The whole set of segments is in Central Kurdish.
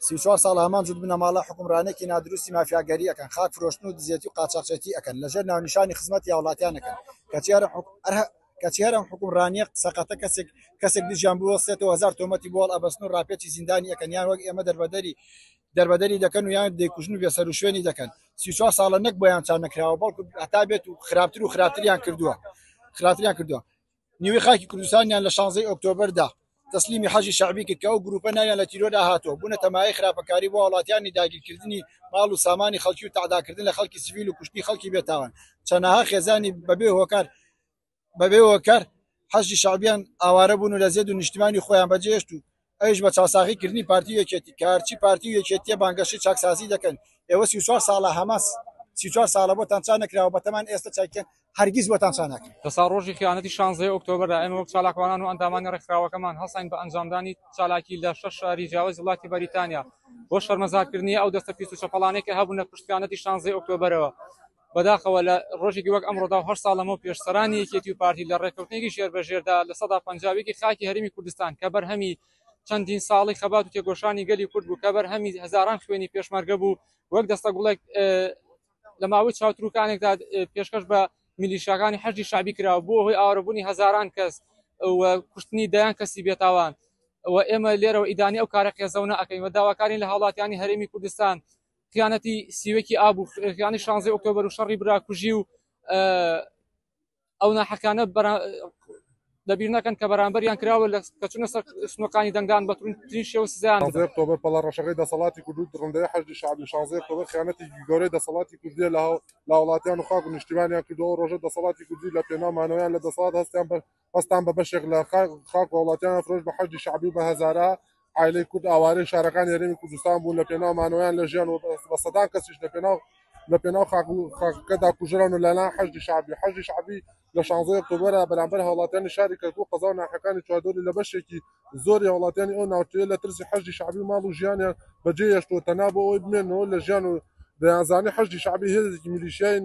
سی چوار ساڵ هەمان جوت بنەماڵە حکومڕانێکی نادروستی مافیاگەری ئەەکەن خاک فرۆشتن و دزێتی و قاچاقچێتی ئەەکەن لەژێر ناونیشانی خزمەت یا وڵاتیانەکەن کەچیارە کەچیارم حکومڕانیە سەقەتە کەسێک کەسێک دژیان بوەستێتەوە هزار تۆمەتی بۆڵ ئەبەستن و راپێکی زیندانی ئەەکەنیان وەک ئێمە دەربەدەری دەربەدەری دەکەن و یان دەیکوژن و بێسەروشوێنی دەکەن سی و چوار ساڵە نەک بۆیان چا نەکراوە بەڵکو هەتا بێت و خراپتر و خراپتریان کردووە خراپتریان کردووە نیوی خاکی کوردستانیان لە شانزەی ئۆکتۆبردا تەسلیمی حەجی شعبی کرد کە ئەو گروپە ناویان لە تیرۆردا هاتووە بوونە تەمای خراپەکاری بۆ وڵاتیانی داگیرکردنی ماڵ و سامانی خەڵکی و تەعداکردن لە خەڵکی سیویل و کوشتنی خەڵکی بێتاوان چەناها خێزانی بەبێ هۆکار بەبێ وەکەر حەشی شعبیان ئاوارە بوون و لە زێد و نیشتمانی خۆیان بەجێشت و ئەوش بە چاساغی کردنی پارتی یەکێتی کارچی پارتی یەکێتیە بانگەشی چاکسازی دەکەن ئێوە سی چوار ساڵە هەماس سی چوار ساڵە بۆتان چا نەکراوە بەتەمان ئێستا چاکیان هەرگیز بۆتان چا ناکەن لەسا ڕۆژی خیانەتی شانزەی ئۆکتۆبەردا ئێمە وەک چالاکوانان و ئەندامانی ڕێکخراوەکەمان هەڵساین بە ئەنجامدانی چالاکی لە شەش شاری جیاوازی وڵاتی بەریتانیا بۆ شەرمەزارکردنی ئەو دەستە پیس و چەپەڵانەی کە هەبوونە پشت خیانەتی شانزەی ئۆکتۆبەرەوە بەداخەوە لە ڕۆژێکی وەک ئەمڕۆدا و هەشت ساڵ لەمەو پێش سەرانی یەکێتی و پارتی لە ڕێککەوتنێکی ژێربەژێردا لە سەدا پەنجا و یەکی خاکی هەرێمی کوردستان کە بەرهەمی چەندین ساڵی خەبات و تێکۆشانی گەلی کورد بوو کە بەرهەمی هەزاران خوێنی پێشمەرگە بوو وەک دەستە گوڵێک لە ماوەی چاوتروکانێکدا پێشکەش بە میلیشاکانی حەشدی شعبی کراوە بۆ هۆی ئاوارەبوونی هەزاران کەس و کوشتنی دەیان کەسی بێتاوان و ئێمە لێرەوە ئیدانی ئەو کارە قێزەونە ئەەکەین و داواکارین لە هاوڵاتیانی هەرێمی کوردستان خیانەتی سیوەکی ئاب و خیانی شانزی ئۆکتۆبەر و شەڕی براکوژی و ئەو ناحەکانە دەبیر نەکەن کە بەرامبەریان کراوە لە کەچونە سەر سنوەکانی دەنگدان بە ترین شێوە سزیان تۆبەر پەڵە ڕەشەکەی دەسەڵاتی کوردود دڕندەی حەجدی شعبی شانزی ئۆکتۆبەر خیانەتی گەورەی دەسەڵاتی کوردیە لە هەو لە وڵاتیان و خاک و نیشتیمانیان کردەوە ڕۆژە دەسەڵاتی کوردی لە پێناو مانەوەیان لە دەسەڵات هەستیان بە هەستان بە بەشێک لە خاک و وڵاتیان فرۆش بە حەشدی شعبی و بە هەزارە عیلەی کورد ئاوارەی شارەکان یاریمی کوردستان بوون لە پێناو مانەوەیان لە ژیان و بە سەدان کەسیش لە پێناو لە پێناو خاکەدا کوژران و لەلا حەشدی شعبی حەشدی شعبی لە شانزۆی ئۆکتۆبەرە بەرامبەر هاوڵاتیانی شاری کەرکوو قەزا و ناحەکانی چواردۆری لە بەشێکی زۆری هاوڵاتیانی ئەو ناوچەیە لە ترسی حەشدی شعبی ماڵ و ژیانیان بەجێ هێشتووە تەنا بۆ ئەوەی بمێنەوە لە ژیان و دەیانزانی حەشدی شعبی هێزێکی میلیشیای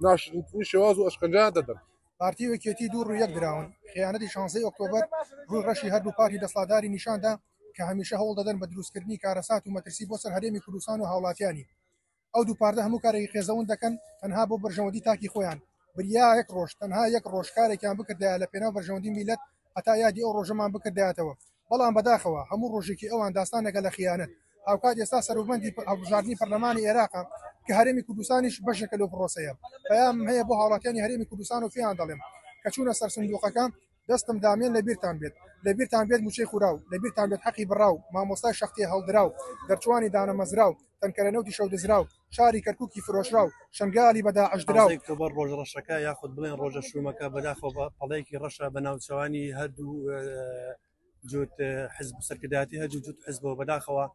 ناشرنتنی شێواز و ئەشکەنجیان دەدەن پارتی و یەکێتی دوو ڕوویەک دراون خیانەتی شانزەی ئۆکتۆبەر ڕووی ڕەشی هەردوو پارتی دەسەڵاتداری نیشاندا کە هەمیشە هەوڵ دەدەن بە دروستکردنی کارەسات و مەترسی بۆ سەر هەرێمی کوردستان و هاوڵاتیانی ئەو دوو پارتە هەموو کارێکی قێزەون دەکەن تەنها بۆ بەرژەوەندی تاکی خۆیان بریا یەک ڕۆژ تەنها یەک ڕۆژ کارێکیان بکردایە لە پێناو بەرژەوەندی میلەت هەتا یادی ئەو ڕۆژەمان بکردایەتەوە بەڵام بەداخەوە هەموو ڕۆژێکی ئەوان داستانێکە لە خیانەت، هاوکات ئێستا سەروبەندی هەڵبژاردنی پەرلەمانی ئێراقە کە هەرێمی کوردستانیش بەشێکە لەو پڕۆسەیە، پەیامم هەیە بۆ هاوڵاتیانی هەرێمی کوردستان و پێیان دەڵێم کە چوونە سەر سندوقەکە دەستم دامێن لەبیرتان بێت لەبیرتان بێت موچەی خوراو لەبیرتان بێت حەقی بڕاو مامۆستای شەقتێ هەڵدراو دەرچووانی دانەمەزراو تەنکەرە نەوتی شەو دزراو شاری کەرکوکی فرۆشرا و شەنگالی بە داعش درا و ئۆکتۆبەر ڕۆژە ڕەشەکە یاخود بڵێن ڕۆژە شوومەکە بەداخەوە بە پەڵەیەکی ڕەشە بە ناوچەوانی هەردوو جوت حزب و سەرکردایەتی هەردوو جوت حزبەوە بەداخەوە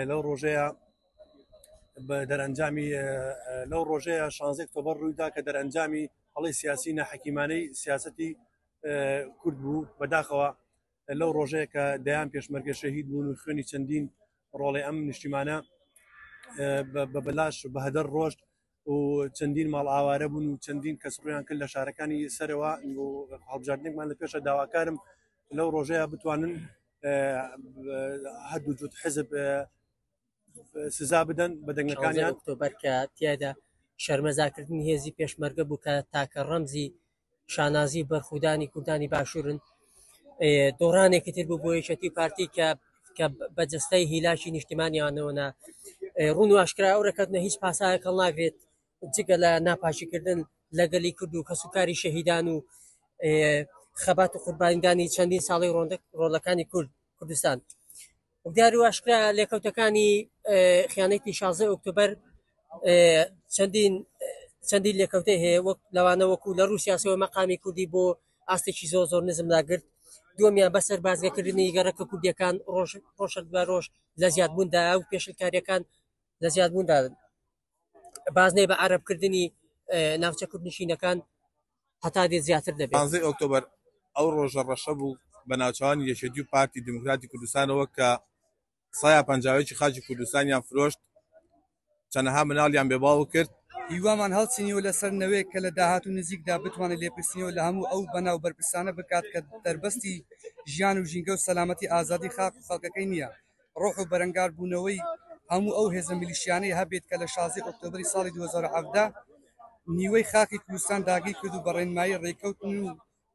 لەو ڕۆژەیە بە دەرەنجامی لەو ڕۆژەیە شانزێک تۆبەر ڕوویدا کە دەرەنجامی هەڵی سیاسی نەحەکیمانەی سیاستی کورد بوو بەداخەوە لەو ڕۆژەیە کە دەیان پێشمەرگە شەهید بوون و خوێنی چەندین ڕۆڵی ئەم نیشتیمانە بە بەلاش بەهدەر ڕۆشت و چەندین ماڵ ئاوارە بوون و چەندین کەس ڕویان کرد لە شارەکانی سەرەوە هەڵبژاردنێکمان لە پێشە داواکارم لەو ڕۆژەیە بتوانن هەردوو جوت حزب سزا بدەن بە دەنگەکانیان ئۆکتۆبەر کە تیادا شەرمەزاکردنی هێزی پێشمەرگە بوو کە تاکە ڕەمزی شانازی بەرخودانی کوردانی باشوورن دۆڕانێکی تر بوو بۆ یەکەتی پارتی کە کە بە جستەی هیلاکی نیشتمانیانەوەە ڕون و ئاشکرا ئەو رەکەتنە هیچ پاسایەک هەڵ ناگرێت جگە لە ناپاشیکردن لەگەلی کرد و کەسوکاری شەهیدان و خەبات و قوربانیدانی چەندین ساڵی ڕۆندە ڕۆلەکانی کورد کوردستان دیاریو ئاشکرا لێکەوتەکانی خیانەتی شازدە ئۆکتۆبەر چەندین چەندین لێکەوتەی هەیە وەک لەوانە وەکو لە ڕوسیاسەوە مەقامی کوردی بۆ ئاستێکی زۆر زۆر نزم ناگرت دومیان بەسەر بازگەکردنی گەڕەکە کوردیەکان ڕۆژ ڕۆژەک بە ڕۆژ لە زیادبووندا و پێشلکاریەکان لە زیادبووندادن بازنەی بە عربکردنی ناوچە کوردنشینەکان هەتا دێت زیاتر دەبێت. پانزەی ئۆکتۆبەر ئەو ڕۆژە ڕەشە بوو بە ناوچەوانی یەکێتی و پارتی دیموکراتی کوردستانەوە کە سایا پەنجاوێکی خاکی کوردستانیان فرۆشت چەنەها مناڵیان بێ باوک کرد هیوامان هەڵچنیەوە لەسەر نەوەیەک کە لە داهاتوو نزیکدا بتوانێت لێپرسینەوە لە هەموو ئەو بەنا و بەرپرسانە بکات کە دەربەستی ژیان و ژینگە و سەلامەتی ئازادی خاک و خەڵکەکەی نییە. ڕۆح و بەرەنگاربوونەوەی هەموو ئەو هێزە میلیشیانەی هەبێت کە لە شازدەی ئۆکتۆبری ساڵی 2017 نیوەی خاکی کوردستان داگیر کرد و بە ڕێنمایی ڕێککەوتن و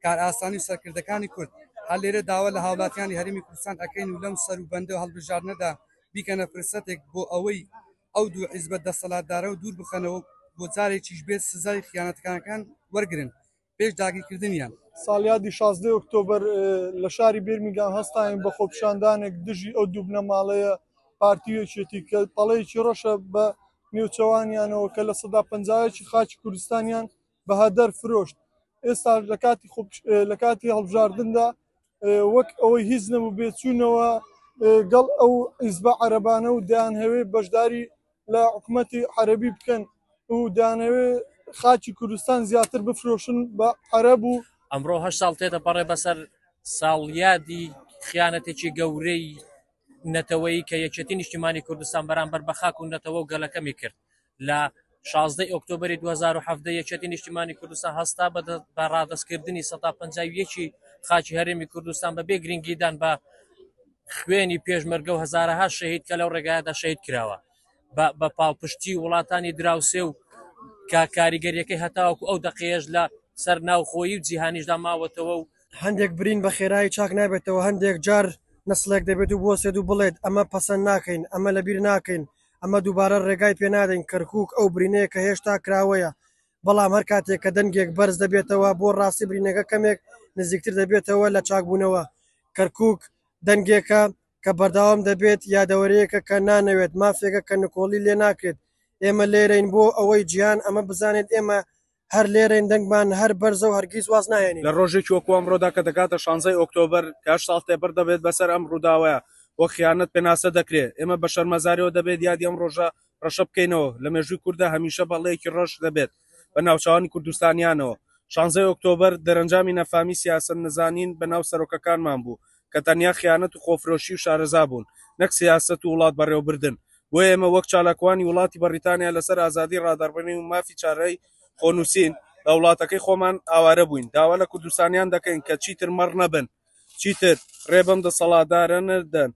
کارئاسانی و سەرکردەکانی کورد هەر لێرە داوا لە هاوڵاتیانی هەرێمی کوردستان ئەکەین و لەم سەر و بەندە و هەڵبژاردنەدا بیکەنە فرسەتێک بۆ ئەوەی ئەو دوو حیزبە دەسەڵاتدارە و دوور بخەنەوە و بۆ جارێکیش بێت سزای خیانەتکارەکان وەرگرن پێش داگیرکردنیان. ساڵیادی شازدە ئۆکتۆبەر لە شاری بێرمیگام هەستاین بە خۆپیشاندانێک دژی ئەو دوو بنەماڵەیە پارتی وێکێتی کە پەڵەیەکی ڕەشە بە نێوچەوانیانەوە کە لە سەدا پەنجایەکی خاچی کوردستانیان بە هەدەر فرۆشت ئێستا لە کاتی لە کاتی هەڵبژاردندا وەک ئەوەی هیچ نەبوو بێ چوونەوە گەڵ ئەو ئیزبە عەرەبانە و دەیانهەوێ بەشداری لە حکوومەتی عەرەبی بکەن و دانەوێ خاچی کوردستان زیاتر بفرۆشن بە عەرەب و ئەمڕۆ هە ساڵ تێتە پەڕێ بەسەر ساڵیادی خیانەتێکی گەورەی نەتەوەی کە یەکێتی نیشتیمانی کوردستان بەرامبەر بە خاک و نەتەوە و گەلەکەمی کرد لە شازدە ی ئۆکتۆبەری دوو هەزار و حەڤدە یەکێتی نیشتیمانی کوردستان هەستا بە دە بە ڕادەستکردنی سەد تا پەنجا و یەکی خاکی هەرێمی کوردستان بەبێ گرنگیدان بە خوێنی پێشمەرگە و هەزارەها شەهید کە لەو ڕێگایەدا شەهید کراوە بە بە پاڵپشتی وڵاتانی دراوسێ و کە کاریگەریەکەی هەتاوەکو ئەو دەقەیەش لە سەر ناوخۆیی و جیهانیشدا ماوەتەوە و هەندێک برین بە خێرایی چاک نابێتەوە، هەندێک جار نەسڵێک دەبێت و بوەستێت و بڵێت، ئەمە پەسەند ناکەین، ئەمە لەبیر ناکەین، ئەمە دووبارە ڕێگای پێ نادەین کەرکووک ئەو برینەیە کە هێشتا کراوەیە، بەڵام هەر کاتێک کە دەنگێک بەرز دەبێتەوە بۆ ڕاستی برینەکە کەمێک نزیکتر دەبێتەوە لە چاکبوونەوە. کەرکووک دەنگێکە کە بەردەوام دەبێت، یادەوەرییەکە کە نانەوێت، مافێکە کە نکۆڵی لێ ناکرێت. ئێمە لێرەین بۆ ئەوەی جیهان ئەمە بزانێت، ئێمە هەر لێرەین دەنگمان هەر بەرزە و هەرگیز واز ناهێنین. لە ڕۆژێکی وەکو ئەمڕۆدا کە دەگاتە شانزەی ئۆکتۆبەر کە هەشت ساڵ تێپەر دەبێت بەسەر ئەم ڕووداوە وەک خیانەت پێناسە دەکرێت، ئێمە بە شەرمەزاریەوە دەبێت یادی ئەم ڕۆژە ڕەشە بکەینەوە، لە مێژووی کورددا هەمیشە بەڵێیەکی ڕەش دەبێت بە ناوچاوانی کوردستانیانەوە. شانزەی ئۆکتۆبەر دەرەنجامی نەفامی سیاسەت نەزانین بە ناو سەرۆکەکانمان بوو کە تەنیا خیانەت و خۆفرۆشی و شارەزا بوون نەک سیاسەت و وڵات بەڕێوەبردن، بۆیە ئێمە وەک چالاکوانی وڵاتی بەڕیتانیا لەسەر ئازادی ڕادەڕبرین و مافی چارەی خۆنووسین لە وڵاتەکەی خۆمان ئاوارە بووین، داوا لە کوردستانیان دەکەین کە چیتر مەڕ نەبن، چیتر ڕێ بەم دەسەڵاتدارە نەدەن،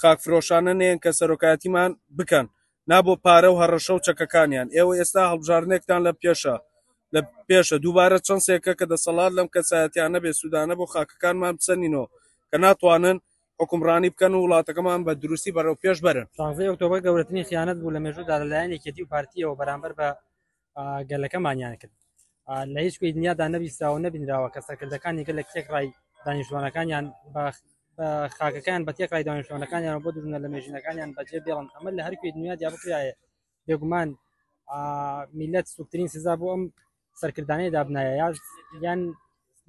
خاکفرۆشانە نێن کە سەرۆکایەتیمان بکەن، نا بۆ پارە و هەڕەشە و چەکەکانیان. ئێوە ئێستا هەڵبژاردنێکتان لە پێشە، لە پێشە دووبارە چەنسێکە کە دەسەڵات لەم کەسایەتیانە بێ سوودانە بۆ خاکەکانمان بسەنینەوە کە ناتوانن حوکمڕانی بکەن و وڵاتەکەمان بە دروستی بەرەو پێش بەرن. شانزەی ئۆکتۆبەر گەورەترین خیانەت بوو لە مێژوودا لەلایەن یەکێتی و پارتییەوە بەرامبەر بە گەلەکەمانیان کرد. لە هیچ کوێی دنیادا نەبیستراوە نەبینراوە کە سەرکردەکانی گەلە تێکڕای دانیشتوانەکانیان خاکەکان بە تێکڕای دانیشتوانەکانیان بۆ دژنە لە مێژینەکانیان بەجێ بێڵن ئەمە لە هەرکوێی دنیادا بکرایە بێگومان میلەت سوکترین سزا بۆ ئەم سەرکردانەی دابنایە یان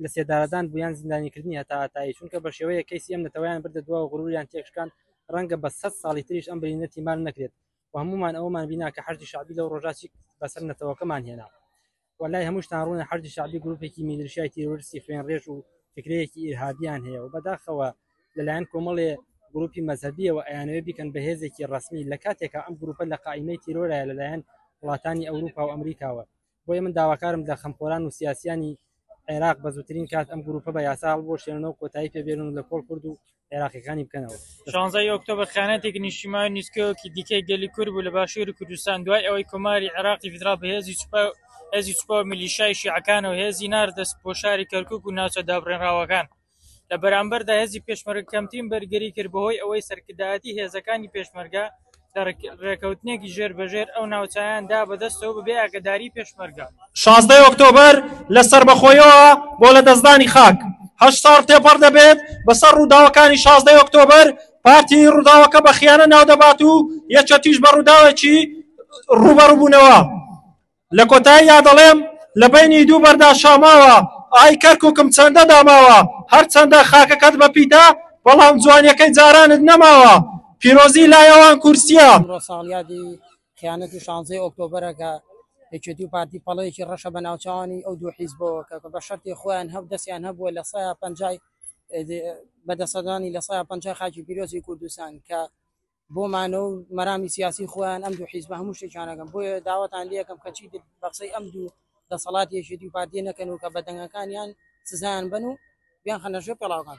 لە سێدارەدان بوویان زیندانیکردنی هەتا تای چونکە بە شێوەیە کەسی ئەم نەتەوەیان بردە دوا و غروریان تێکشکان ڕەنگە بە سە ساڵی تریش ئەم برینەتی مان نەکرێت و هەمومان ئەومان بینا کە حەشی شعبی لەو ڕۆژاتی بەسەر نەتەوەکەمان هێنا وەلای هەمووشتان ڕوونە حەشدی شەعبی گروپێکی میلیشیای تیرۆرستی خوێنڕێژ و فکرەیەکی ئیرهابییان هەیە و بەداخەوە لەلایەن کۆمەڵێ گروپی مەزهەبیەوە ئەیانەوێ بیکەن بە هێزێکی ڕەسمی لە کاتێکا ئەم گروپە لە قائیمەی تیرۆرایە لەلایەن وڵاتانی ئەوروپا و ئەمریکاوە بۆیە من داواکارم لە خەمخۆران و سیاسیانی عێراق بە زووترین کات ئەم گروپە بە یاسا هەڵبوەشێنەوە کۆتایی پێبێنن و لە کۆڵ کورد و عێراقیەکانی بکەنەوە شانزای ئۆکتۆبر خیانەتێک نیشتیمان و نیسکەوەکی دیکەی گەلی کورد بوو لە باشووری کوردستان دوای ئەوەی کۆماری عێراقی فیدراڵ بە هێزی سوپا و هێزی سوپا و میلیشیای شیعەکانەوە هێزی ناردە بۆ شاری کەرکووک و ناوچە دابڕێنراوەکان لە بەرامبەردا هێزی پێشمەرگە کەمترین بەرگری کرد بەهۆی ئەوەی سەرکردایەتی هێزەکانی پێشمەرگە کە ڕێکەوتنێکی ژێربەژێر ئەو ناوچایان دا بە دەستەوە بە بێ ئاگەداریی پێشمەرگە. شازدە ی ئۆکتۆبەر لە سەربەخۆییەوە بۆ لەدەستدانی خاک، هەشت ساڵ تێپەڕ دەبێت بەسەر ڕووداوەکانی شازدە ی ئۆکتۆبەر، پارتی ڕووداوەکە بە خیانە ناودەبات و یەکێتیش بە ڕووداوێکی ڕووبەڕووبوونەوە، لە کۆتاییدا دەڵێم، لە بەینی دوو بەردا شاماوە، ئای کەرکوکم چەندە داماوە، هەرچەندە خاکەکەت بە پیتە، بەڵام جوانیەکەی جارانت نەماوە، پیرۆزی لای ئەوان کورسیە. ئەمڕۆ ساڵیادی خیانەتی شانزەی ئۆکتۆبەرە کە یەکێتی و پارتی پەڵەیەکی ڕەشە بە ناوچەوانی ئەو دوو حیزبەوە کە بە شەرتی خۆیان هەب دەسیان هەبووە لە سەیا پەنجای بەدەسەدانی لە سەیا پەنجای خاکی پیرۆزی کوردستان کە بۆ مانەوە و مەرامی سیاسی خۆیان ئەم دوو حیزبە هەموو شتێکیانەکەن بۆیە داوەتان لەکەم کەچی بەقسەی ئەم دوو دەسەڵات یەکێتی و پارتیە نەکەن و کە بە دەنگەکانیان سزایان بن و بیان خەنەژێ پێڵاوکان.